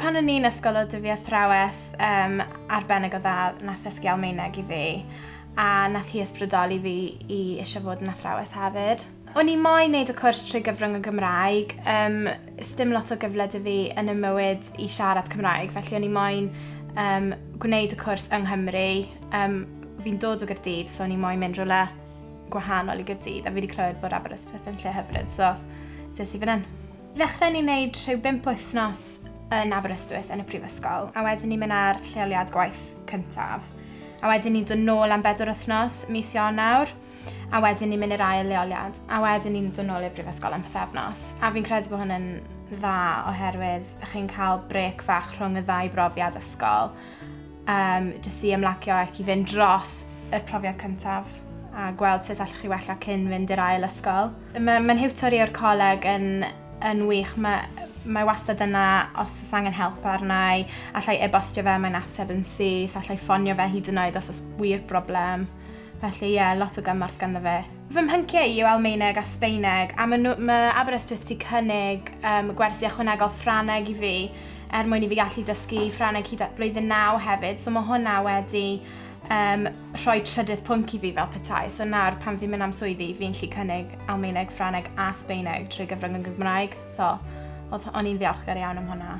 Pan o'n i'n ysgol oedd fi athrawes um, arbennig o dda nath ddysgu Almaeneg i fi a nath hi ysbrydoli fi i eisiau fod yn athrawes hefyd. O'n i moyn neud y cwrs trwy gyfrwng y Gymraeg, um, sdim lot o gyfle dy fi yn y mywyd i siarad Cymraeg, felly o'n i moyn um, gwneud y cwrs yng Nghymru. Um, fi'n dod o Gyrdydd, so o'n i moyn mynd rhywle gwahanol i Gyrdydd, a fi wedi clywed bod Aberystwyth yn lle hyfryd, so dys i fan hyn. Ddechrau ni wneud rhyw bimp wythnos yn Aberystwyth yn y prifysgol, a wedyn ni'n mynd ar lleoliad gwaith cyntaf. A wedyn ni'n dod nôl am bedwar wythnos, mis Ionawr, a wedyn ni'n mynd i'r ail leoliad, a wedyn ni'n dod nôl i'r brifysgol am pethefnos. A fi'n credu bod hwn yn dda oherwydd chi'n cael brec fach rhwng y ddau brofiad ysgol, um, jyst i ymlacio ac i fynd dros y profiad cyntaf a gweld sut allwch chi wella cyn fynd i'r ail ysgol. Mae ma hiwtor i o'r coleg yn, yn wych. Mae, mae wastad yna os oes angen help arnau, allai e-bostio fe, mae'n ateb yn syth, allai ffonio fe hyd yn oed os oes wir broblem. Felly ie, lot o gymorth ganddo fe. Fy mhyncie i yw Almaeneg a Sbaeneg, a ma nhw, ma Aberystwyth ti cynnig um, gwersi ychwanegol Ffraneg i fi, er mwyn i fi gallu dysgu Ffraneg hyd at blwyddyn naw hefyd, so mae hwnna wedi um, rhoi trydydd pwnc i fi fel petai. So nawr, pan fi'n mynd am swyddi, fi'n lli cynnig Almaeneg, Ffraneg a Sbaeneg trwy gyfrwng yn Gymraeg, so o'n i'n ddiolchgar iawn am hwnna.